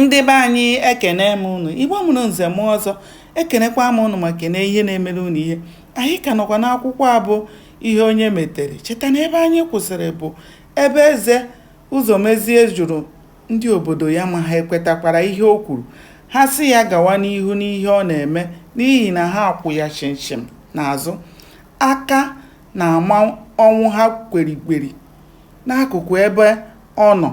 ndị be anyị ekene m ụnụ igbo mụrụ nze mụọ ọzọ ekenekwa m ụnụ ma kene ihe na-emere ụnụ ihe anyị ka nọkwa n'akwụkwọ a bụ ihe onye metere cheta na ebe anyị kwụsịrị bụ ebe eze ụzọmezie jụrụ ndị obodo ya ma ha ekwetakwara ihe o kwuru ha sị ya gawa n'ihu n'ihe ọ na-eme n'ihi na ha kwụ ya chimchim n'azụ aka na-ama ọnwụha kwerikweri n'akụkụ ebe ọ nọ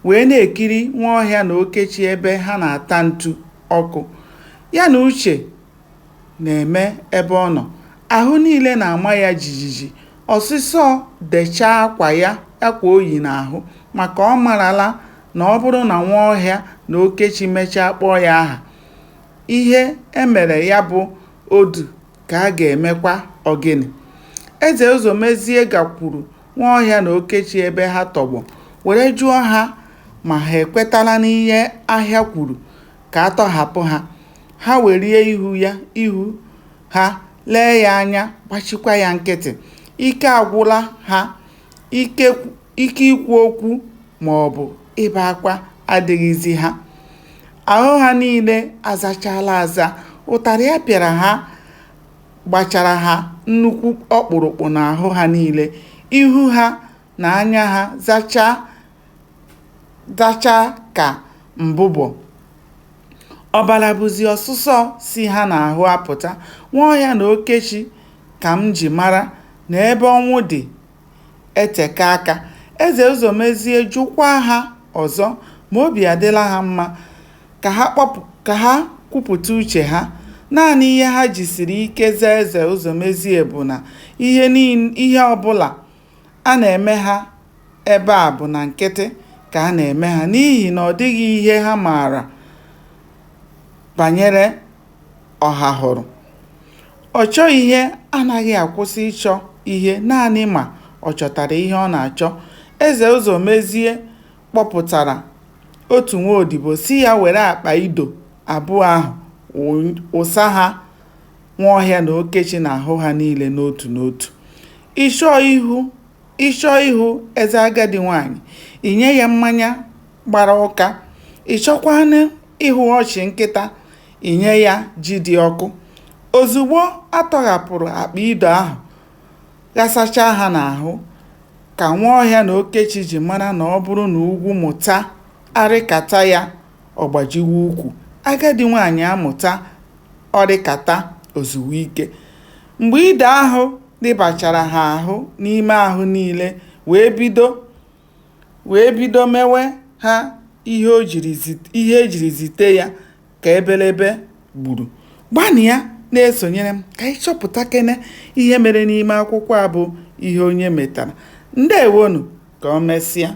wee na-ekiri Nwaọhịa na Okechi ebe ha na-ata ntu ọkụ. Ya na uche na-eme ebe ọ nọ. Ahụ niile na-ama ya jijiji. Ọsịsọ dechaa akwa ya akwa o yi n'ahụ maka ọ marala na ọ bụrụ na Nwaọhịa na Okechi mechaa kpọọ ya aha, ihe e mere ya bụ odu ka a ga-emekwa ọgịnị. Eze Ụzọmezie gakwuru Nwaọhịa na Okechi ebe ha tọgbọ were jụọ ha ma ha ekwetala n'ihe ahụ ya kwuru ka a tọhapụ ha, ha welie ihu ya ihu ha lee ya anya gbachikwa ya nkịtị. Ike agwụla ha, ike ike ikwu okwu maọbụ ibe akwa adịghịzi ha. Ahụ ha niile azachaala aza, ụtarị a pịara ha gbachara ha nnukwu ọkpụrụkpụ n'ahụ ha niile, ihu ha na anya ha zachaa zachaa ka mbụbọ. Ọbara bụzi ọsụsọ si ha n'ahụ apụta. Nwaọhịa na Okechi ka m ji mara na ebe ọnwụ dị eteka aka. Eze Ụzọmezie jụkwaa ha ọzọ ma obi adịla ha mma ka ha kwupụta uche ha. Naanị ihe ha jisiri ike zaa Eze Ụzọmezie bụ na ihe ọbụla a na-eme ha ebe a bụ na nkịtị ka a na-eme ha n'ihi na ọ dịghị ihe ha maara banyere Ọhahụrụ. Ọchọ ihe anaghị akwụsị ịchọ ihe naanị ma ọ chọtara ihe ọ na-achọ. Eze Ụzọmezie kpọpụtara otu nwaodibo sị ya were akpa ido abụọ ahụ wụsa ha Nwaọhịa na Okechi n'ahụ ha niile n'otu n'otu. Ị chọọ ihu Ị chọọ ịhụ eze agadi nwaanyị, i nye ya mmanya gbara ụka. Ị chọkwanụ ịhụ ọchị nkịta i nye ya ji dị ọkụ. Ozugbo a tọghapụrụ akpa ido ahụ, ghasachaa ha n'ahụ, ka Nwaọhịa na Okechi ji mara na ọ bụrụ na ugwu mụta a rịkata ya, ọ gbajiwe ukwu. Agadi nwaanyị amụta ọ rịkata o zuwe ike. Mgbe ido ahụ rịbachara ha ahụ n'ime ahụ niile wee bido wee bido mewe ha ihe e jiri zite ya ka ebelebe gburu. Gbanịa na-esonyere m ka anyị chọpụtakene ihe mere n'ime akwụkwọ a bụ Ihe Onye Metara. Ndeewonụ, ka o mesịa.